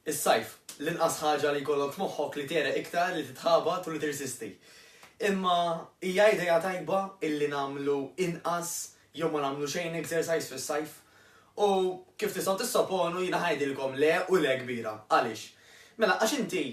Is-sajf, l-inqas ħaġa li jkollok f'moħħok li tgħereq iktar, li titħabat u li tirsisti. Imma hija idea tajba illi nagħmlu inqas jew ma nagħmlu xejn exercise fis-sajf? U kif tistgħu tissoponu jiena ngħidilkom le u le kbira. Għaliex? Mela għax inti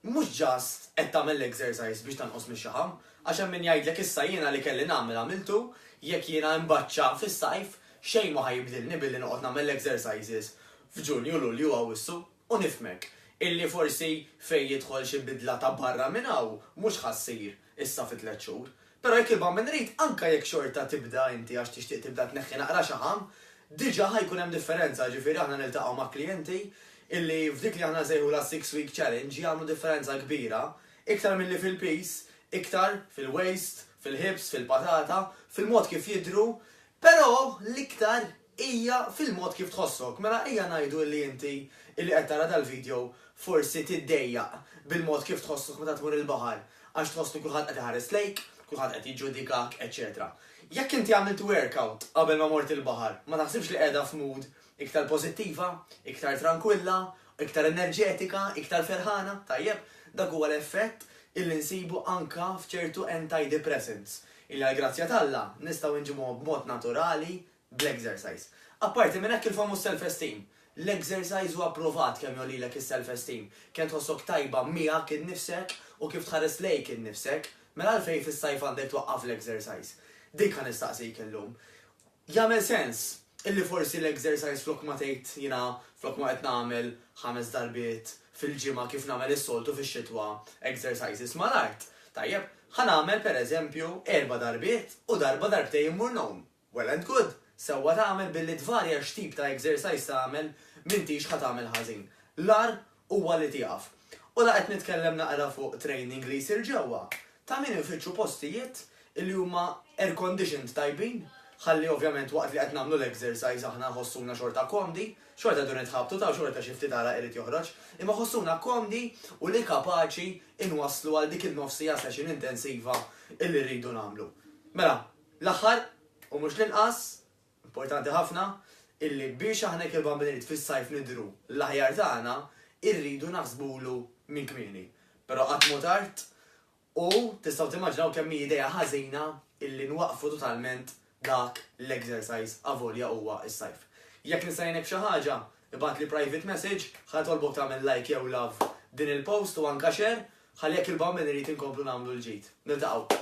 Mhux just qed tagħmel l-exercise biex tanqos mix-xaħam, għax hemm min jgħidlek issa jiena li kelli nagħmel għamiltu, jekk jiena imbaċċa fis-sajf, xejn mhu ħa jibdilni billi noqgħod nagħmel l-exercises f'Ġunju, Lulju u Awwissu. U nifhmek, illi forsi fejn jidħol xi bidla ta' barra minn hawn, mhux ħa ssir. issa fi tliet xhur. Però jekk ibqa' min irid, anke jekk xorta tibda inti għax tixtieq tibda tneħħi naqra xaħam, diġà ħa jkun hemm differenza, ġifieri aħna niltaqgħu ma' klijenti illi f'dik li aħna nsejħulha six week challenge jagħmlu differenza kbira, iktar milli fil-piż, iktar fil-waist, fil-hips, fil-patata, fil-mod kif jidhru, però l-iktar. Hija fil-mod kif tħossok. Mela ejja ngħidu illi inti illi qed tara dal-video forsi tiddejjaq bil-mod kif tħossok meta tmur il-baħar għax tħoss li kulħadd qed iħares lejk, kulħadd qed jiġġudikak, eċċetera. Jekk inti għamilt workout qabel ma mort il-baħar, ma taħsibx li qiegħda f'mood iktar pożittiva, iktar trankwilla, iktar enerġetika, iktar ferħana? Tajjeb, dak huwa l-effett illi nsibu anke f'ċertu antidepressants illi għall-grazzja t'Alla nistgħu nġibuhom b'mod naturali bl-exercise. Apparti minn hekk il-famuż self-esteem. L-exercise huwa pprovat kemm jgħollilek is-self-esteem, kemm tħossok tajba miegħek innifsek u kif tħares lejk innifsek. Mela għalfejn fis-sajf għandek twaqqaf l-exercise? Dik ħa nistaqsik illum. Jagħmel sens illi forsi l-exercise flok ma tgħid jiena flok ma qed nagħmel ħames darbiet fil-ġimgħa kif nagħmel is-soltu fix-xitwa exercises mal-art, tajjeb, ħa nagħmel pereżempju erba' darbiet u darba darbtejn immur ngħum. Well and good! Sewwa tagħmel billi tvarja x'tip ta' exercise tagħmel, m'intix ħa tagħmel ħażin. L-agħar huwa li tieqaf. U la qed nitkellem naqra fuq training li jsir ġewwa, ta' min infittxu postijiet li huma air-conditioned tajbin, ħalli ovvjament waqt li qed nagħmlu l-exercise aħna nħossuna xorta komdi, xorta jdu nitħabtu ta' u xorta xi ftit għaraq irid joħroġ, imma ħossuna komdi u li kapaċi inwasslu għal dik in-nofs siegħa session intensiva illi rridu nagħmlu. Mela, L-aħħar, u mhux l-inqas, importanti ħafna, illi biex aħna jekk il-Bambin Irid fis-Sajf nidhru l-aħjar tagħna, irridu naħsbulu minn kmieni. Però qatt m'hu tard u tistgħu timmaġinaw kemm hi idea ħażina illi nwaqqfu totalment dak l-exercise avolja huwa s-Sajf. Jekk nista' ngħinek b'xi ħaġa, ibgħatli private message, ħa nitolbok tagħmel like jew love din il-post u anka share, ħalli jekk il-Bambin Irid inkomplu nagħmlu l-ġid. Niltaqgħu.